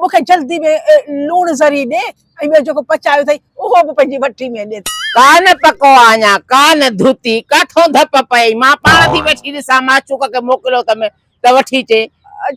مون کي جلدي ۾ لوڻ ذري ڏي ۽ ٻيو جيڪو پچايو اٿئي اهو به پنهنجي وٺي ۾ ڏي. ڪا نه پڪو آ اڃا ڪا نه ڌوتي، ڪاٿئون ڌپ پئي، مان پاڻ ٿي وٺي ڏسان، معشوق کي موڪليو اٿم ته وٺي اچي.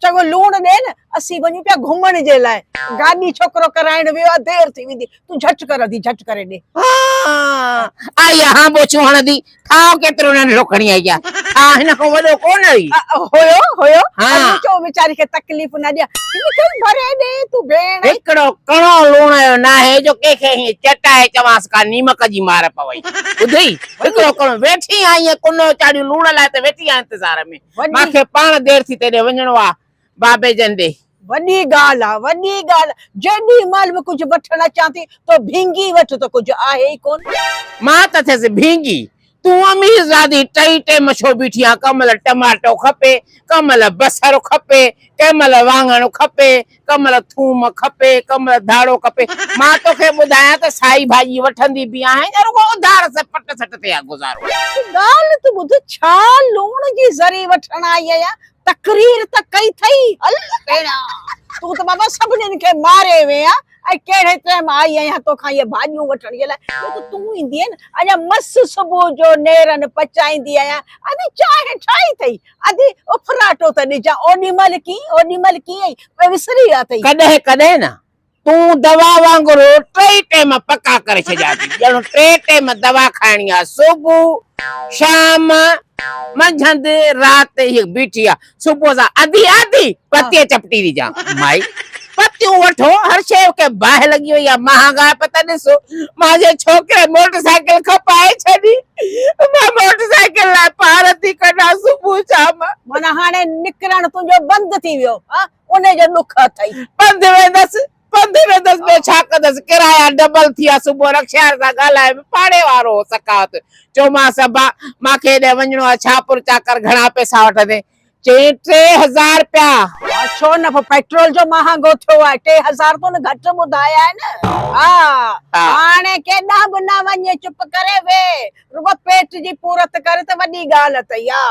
چڱو لوڻ ڏي نه، اسين وڃون پيا گهمڻ جي لاء، گاڏي ڇوڪرو ڪرائڻ ويو آ، دير ٿي ويندي، تون جهٽ ڪر اڌي جهٽ ڪري ڏي. هان، آء هان ٻوچون هڻندي، ٺاهه ڪيترو ننڍڙو کڻي آئي جا ٺاهه هن کان وڏو ڪونه هئي هيو هيو ۽ چو ويچاري کي تڪليف نه ڏي هن کي ڀري ڏي تون ڀيڻ هڪڙو ڪڻو لوڻ جو ناهي جو ڪنهن کي هيئن چٽائي چوانس ڪا نيمڪ جي مار پوي ٻڌئي هڪڙو ڪڻو ويٺي آهين ڪنو چاڙهيون لوڻ لاء ته ويٺي آهين انتظار ۾ مان کي پاڻ دير ٿي تيڏي وڃڻو آ بابي جن ڏي. وڏي ڳالهه آ وڏي ڳالهه. جيڏي مهل به ڪجهه وٺڻ اچان ٿي تو ڀينگي وٺ تو ڪجهه آهي ئي ڪون. مان ته اٿس ڀينگي تون امير زادي ٽئي ٽيم ڇو بيٺي آن ڪنهن مهل ٽماٽو کپي ڪنهن مهل بصر کپي ڪنهن مهل واڱڻ کپي ڪنهن مهل ٿوم کپي ڪنهن مهل ڌاڙو کپي مان توکي ٻڌايان ته سائي ڀاڄي وٺندي به آهين يا رڳو اڌار سان پٽ سٽ تي آ گذارو. هڪ ڳالهه ته ٻڌ ڇا لوڻ جي ذري وٺڻ آئي آهيان تقرير ته ڪئي اٿئي الله ڀيڻا تون ته بابا سڀنين کي ماري وين ها ۽ ڪهڙي ٽائيم آئي آهيان توکان اهي ڀاڄيون وٺڻ جي لاء جو ته تون ايندي نه اڃا مس صبح جو نيرن پچائيندي آهيان ادي چانهه ٺاهي اٿئي ادي اڦراٽو ته ڏجان اوڏي مهل ڪيئي اوڏي مهل ڪيئي ۽ وسري ويا اٿئي. ڪڏهن ڪڏهن نه تون دوا وانگر ٽئي ٽيم پڪا ڪري ڇڏيا ٿي ڄڻ ٽئي ٽيم دوا کائڻي آ صبح شام منجهند رات هي بيٺي آ صبح سان اڌي آڌي پتي چپٽي ٿي جان مائي پتيون وٺو هر شي کي باهه لڳي وئي آ مهانگا پتا ڏسو مانجي ڇوڪري موٽر سائيڪل کپائي ڇڏي مان موٽر سائيڪل لاء پار ٿي ڪڍان صبح شام معنيٰ هاڻي نڪرڻ تنهنجو بند ٿي ويو ها انهي جو ڏک اٿئي. پنڌ ويندس، پنڌ ويندس، ٻيو ڇا ڪندس، ڪرايا ڊبل ٿيا، صبح رڪشاين سان ڳالهائي به پاڙي وارو هو سخاوت، چيومانس ابا مان کي هيڏانهن وڃڻو آهي، ڇا پر چاڪر گهڻا پئسا وٺندين، چيائين ٽي هزار رپيا. ها ڇو نه، پيٽرول جو مهانگو ٿيو آهي، ٽي هزار تون گهٽ ٻڌايا آهن، ها هاڻي ڪيڏانهن به نه وڃ، چپ ڪري ويهه، رڳو پيٽ جي پورت ڪر ته وڏي ڳالهه اٿئي، ها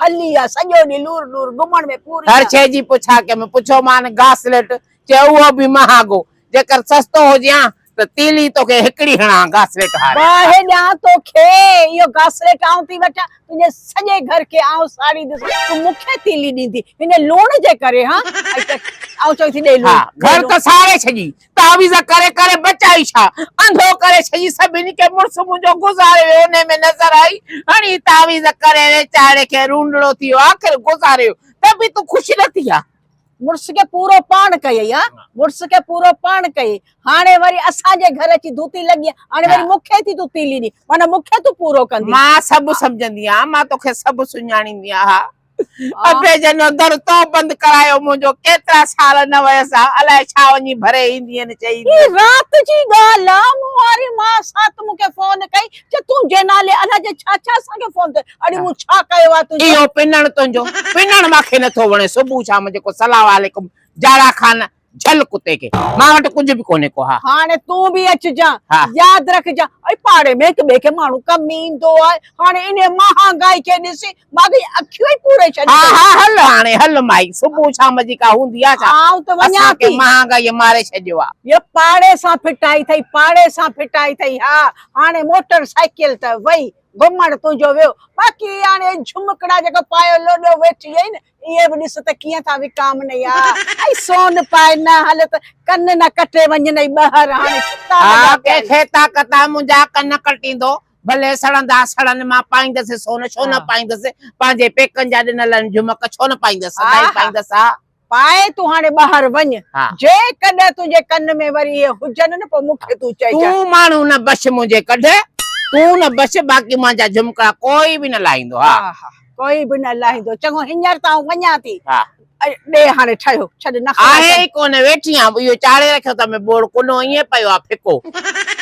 هلي آ سڄو ڏينهن لور لور گهمڻ ۾ پوري آ. هر شيء جي پڇا ڪيم. پڇيو مان گاسليٽ چيو اهو به مهانگو جيڪر سستو هجي هان ته تيلي توکي هڪڙي هڻان هان گاسليٽ هاري. باهه ڏيان توکي اهو گاسليٽ آئون ٿي وٺان تنهنجي سڄي گهر کي آئون ساڙي دس تون مون کي تيلي ڏيندي هن لوڻ جي ڪري هان ۽ ته آئون چوين ٿي ڏي لوڻ. ها گهر ته ساڙي ڇڏي تعويذ ڪري ڪري بچائي ڇا؟ انڌو ڪري ڇڄي سڀني کي مڙس منهنجو گذاري ويو انهي ۾ نظر آئي هڻي تعويذ ڪري ويچاري کي رونڙو ٿي ويو آخر گذاري ويو ته به تون خوش نه ٿي ها. مڙس کي پورو پاڻ ڪيئي ها مڙس کي پورو پاڻ ڪيئي هاڻي وري اسان جي گهر اچي ڌوتي لڳي ها هاڻي وري مون کي ٿي تون تيلي ڏين معنيٰ مون کي تون پورو ڪندين. مان سڀ سمجهندي آهيان مان توکي سڀ سڃاڻيندي آهيان ها. ابي جن جو در تو بند ڪرايو منهنجو ڪيترا سال نه ويس ها الائي ڇا وڃي ڀري ايندين چئي هي رات جي ڳالهه آ مون واري ماء سات مون کي فون ڪئي چي تنهنجي نالي الائي جي ڇا ڇا اسان کي فون ڪئي اڙي مون ڇا ڪيو آ تنهنجو اهو پنڻ تنهنجو پنڻ ماکي نٿو وڻي صبح شام جيڪو سلام عليڪم جاڙا خان جهل ڪتي کي مان وٽ ڪجهه به ڪونهي ڪو ها. هاڻي تون به اچجان ها. ياد رکجان ۽ پاڙي ۾ هڪ ٻئي کي ماڻهو ڪم ۾ ايندو آهي هاڻي انهي مهانگائي کي ڏسي ماڳهئي اکيون ئي پوري ڇڏي ها ها هل هاڻي هل مائي صبح شام جي ڪا هوندي آهي ڇا آئون ته وڃان اسان کي ٿي. مهانگائي ماري ڇڏيو آهي. يا پاڙي سان ڦٽائي ٿئي پاڙي سان ڦٽائي ٿئي ها هاڻي موٽر سائيڪل ته وئي گهمڻ تنهنجو ويو باقي هي هاڻي جهمڪڙا جيڪا پايو لوڏيو ويٺي آهين اهي به ڏس ته ڪيئن ٿا وڪامن اي آء اي سون پائي نه هل ته ڪن نه ڪٽي وڃن اي ٻهر هاڻي ڇتا آء لڳا پيا ڪنهن آهن. کي طاقت آ منهنجا ڪن ڪٽيندو ڀلي سڙندا سڙن مان پائيندس سون ڇو نه پائيندس پنهنجي پيڪن جا ڏنل آهن جهمڪ ڇو نه پائيندس سدائين آه پائيندس آء. پائي تون هاڻي ٻهر وڃ ها. جيڪڏهن تنهنجي ڪن ۾ وري اهي هجن نه پوء مون کي تون چئجانء. تون ماڻهو نه بڇ منهنجي ڪڍ تون نه بڇ باقي مانجا جهمڪڙا ڪوئي به نه لاهيندو ها. آه. ڪوئي به نه لاهيندو. چڱو، هينئر ته آئون وڃان ٿي. ها. ڏي هاڻي ٺهيو. ڇڏ نه خراب آهي ڪر. ئي ڪونه ويٺي آن اهو چاڙهي رکيو اٿم ۽ ٻوڙ ڪنو ائين پيو آهي ڦڪو.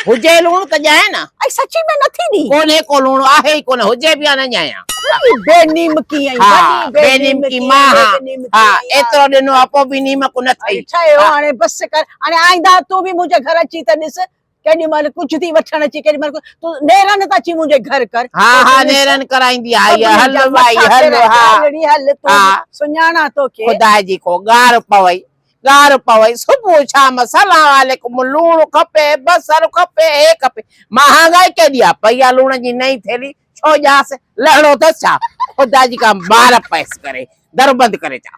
هجي لوڻ ته ڄائين ها. ۽ سچي ۾ نه ٿي ڏي. ڪونهي ڪو لوڻ آهي ئي ڪونه هجي به ها نه ڄايان. وڏي بي نيمڪي ها. ها. بي نيمڪي مان ها. ها. ايترو ڏنو ها پوء به نيمڪ نه ٿئي. ٺهيو هاڻي بس ڪر. هاڻي آئنده تون به منهنجي گهر اچين ته ڏس. ڪيڏي مهل ڪجهه ٿي وٺڻ اچي ڪيڏي مهل تو نيرن ته اچي منهنجي گهر ڪر ها ها نيرن ڪرائيندي آئي هل وائي هل ها هل تو سڃاڻا توکي خدا جي ڪو گار پوي گار پوي صبح شام سلام عليڪم لوڻ کپي بصر کپي هي کپي مهانگائي ڪيڏي آ پئي آ لوڻ جي نئين ٿيلي ڇو ڄاس لهڻو اٿس ڇا خدا جي ڪا مار پيس ڪري در بند ڪري ڇا